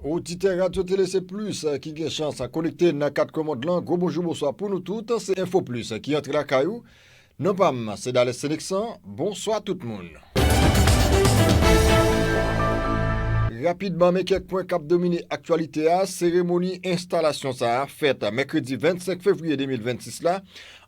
Oditè Radyo Tele Se Plis ki gen chans konekte nan kat kwen mond lan, gwo bonjou bonswa pou nou tout, se Enfo Plis ki antre lakay ou, non pa m se Dales Seneksan, bonswa tout moun. Rapidman men kèk pwen kap domine aktyalite a, seremoni enstalasyon sa a fèt mèkredi 25 fevriye 2026 la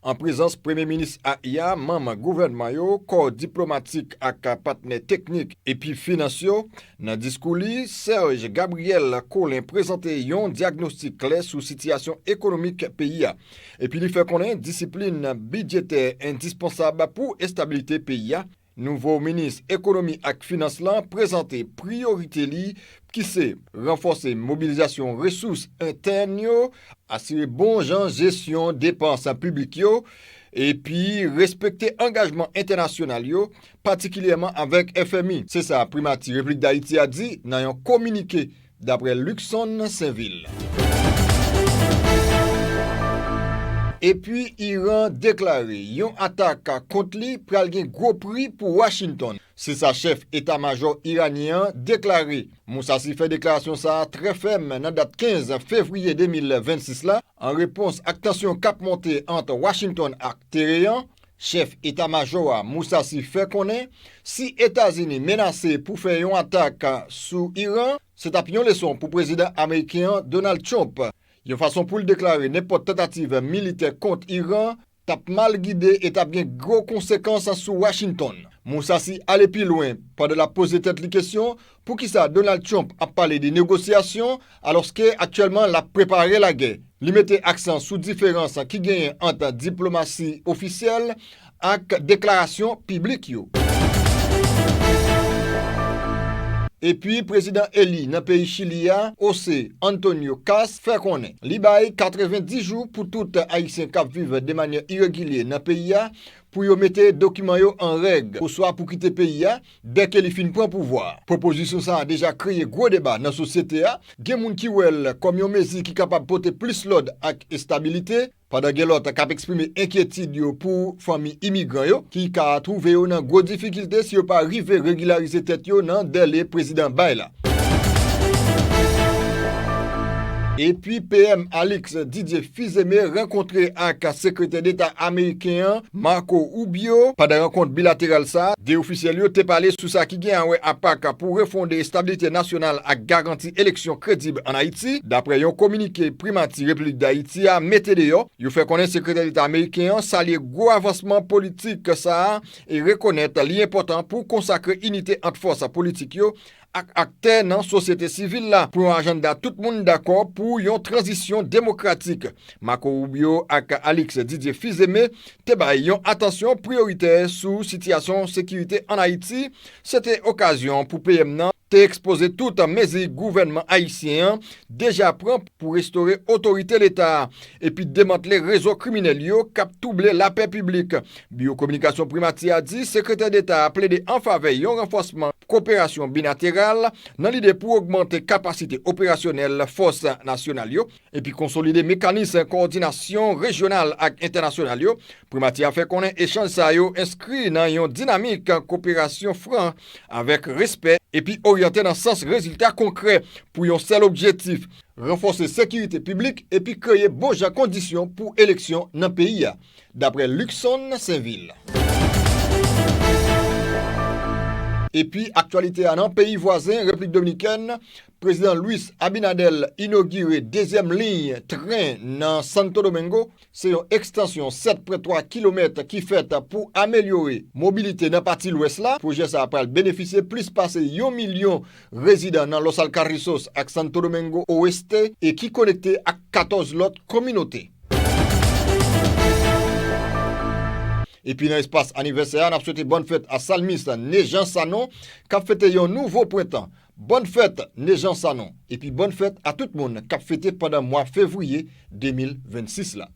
an prezans premye minis a ya, manm gouvènman yo, kò diplomatik ak patnè teknik epi finans yo, Nan diskou li, Serge Gabriel Collin prezante yon dyagnostik klè sou sitiyasyon ekonomik peyi a epi li fè konnen disiplin bidjetè endispansab pou estabilite peyi a. Nouvo minis ekonomi ak finans lan prezante priyorite li ki se ranfòse mobilizasyon resous entèn yo, asire bon jan jesyon depans piblik yo epi respekte angajman entènasyonal yo patikilyèman avèk FMI. Se sa Primati Repiblik Dayiti a di nan yon kominike, daprè Luckson Sainvil. Epi Iran deklare yon atak kont li pral gen gwo pri pou Washington. Se sa chèf eta majò iranyen an deklare. Moussassi fè deklarasyon sa a trè fèm nan dat 15 fevriye 2026 la, an repons ak tansyon k ap monte ant Washington ak Teheran, Chèf eta majò a, Mousasi fè konnen si Etazini menase pou fè yon atak sou Iran, se t ap yon leson pou prezidan ameriken an, Donald Trump, yon fason pou l deklare nenpòt tantativ militè kont Iran t ap mal gide e t ap gen gwo konsekans sou Washington. Mousasi ale pi lwen pandan l ap poze tèt li kesyon Poukisa Donald Trump ap pale de negosyasyon alòske aktyèlman l ap prepare lagè? Li mete aksan sou diferans ki genyen ant diplomasi ofisyèl ak deklarasyon piblik yo. Epi prezidan eli nan peyi Chili a, José Antonio Kast, fè konnen li bay 90 jou pou tout ayisyen k ap viv de manyè iregilye nan peyi a pou yo mete dokiman yo an règ oswa pou kite peyi a, Dèke li fin pran pouvwa a, pwopozisyon sa a deja kreye gwo deba nan sosyete a, gen moun ki wè l kòm yon mezi ki kapab pote plis lòd ak estabilite, pandan gen lòt k ap eksprime enkyetid yo pou fanmi imigran yo ki ka twouve yo nan gwo difikilte si yo pa rive regilarize tèt yo nan dèle prezidan bay la. Epi PM Alix Didier Fils-Aimé rankontre ak Sekretè Deta ameriken an, Marco Rubio. Pandan rankont bilateral sa, 2 ofisyèl yo te pale sou sa ki gen awè a pak pou refonde estabilite nasyonal ak garanti eleksyon kredib an Ayiti, daprè yon kominike Primati Repiblik Dayiti a mete deyò. Yo fè konnen Sekretè Deta ameriken an salye gwo avansman politik sa e rekonèt li enpòtan pou konsakre inite ant fòs politik yo ak aktè nan sosyete sivil la pou yon ajannda tout moun dakò pou yon tranzisyon demokratik. Marco Rubio ak Alix Didier Fils-Aimé te bay yon atansyon priyoritè sou sitiyasyon sekirite ann Ayiti, se te okazyon pou PM nan. te ekspoze tout mezi gouvènman ayisyen an deja pran pou restore otorite leta a epi demantle rezo kriminèl yo k ap twouble lapè piblik. Biwo kominikasyon Primati a di Sekretè Deta a plede an favè yon ranfòsman koperasyon bilateral nan lide pou ogmante kapasite operasyonèl fòs nasyonal yo, epi konsolide mekanis kowòdinasyon rejyonal ak entènasyonal yo, Primati a fè konnen echanj sa yo enskri nan yon dinamik koperasyon fran avèk respè epi oryante nan sans rezilta konkrè pou yon sèl objetif, ranfòse sekirite piblik epi kreye bon jan kondisyon pou eleksyon nan peyi a, daprè Luckson Sainvil. Epi aktyalite a nan peyi vwazen Replik Dominikèn, Prezidan Luis Abinader inogire dezyèm liy tren nan Santo Domingo, se yon ekstansyon 7.3 kilomèt ki fèt pou amelyore mobilite nan pati lwès la. Pwojè sa a pral benefisye plis pase yon milyon rezidan nan Los Alcarrizos ak Santo Domingo Oeste e ki konekte ak 14 lòt kominote. Epi nan espas anivèsè a, n ap swete bòn fèt a salmis Nejan Sanon k ap fete yon nouvo prentan Bòn fèt Nejan Sanon epi bòn fèt a tout moun kap fete pandan mwa fevriye 2026 la.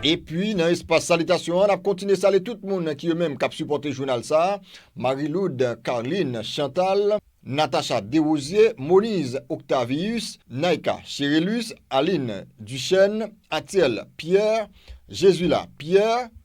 Epi nan espas salitasyon an nap kontinye sale tout moun ki yo menm kap sipòte jounal sa, Mariloude, Carline, Chantal, Natacha Derosier, Moniz Octavius, Naïka Cherelus, Aline Duchesne, Athiel Pierre, Jesula Pierre,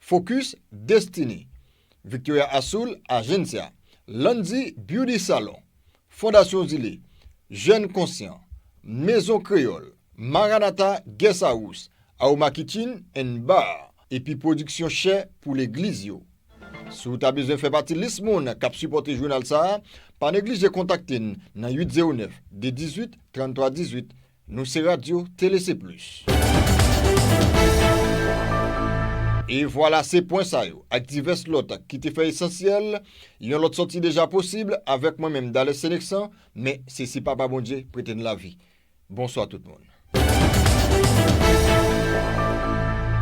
Focus Destiny, Victoria Asoul Agencia, Landy Beauty Salon, Fondasyon Zile, Jèn Konsyan, Mezon Kreyòl, Maranatha Guest House, Aoma Kitchen and Bar, epi pwodiksyon chè pou legliz yo. Si w ta bezwen fè pati lis moun k ap sipòte jounal sa a, pa neglije kontakte n nan 809 218 33 18. Nou se radio tele se plus. E vwala se pwen sa yo ak divès lòt ki te fè esansyèl yon lòt sòti deja posib avèk mwen menm Dales Senexan men se si Papa Bondye prete n lavi. Bonswa tout moun.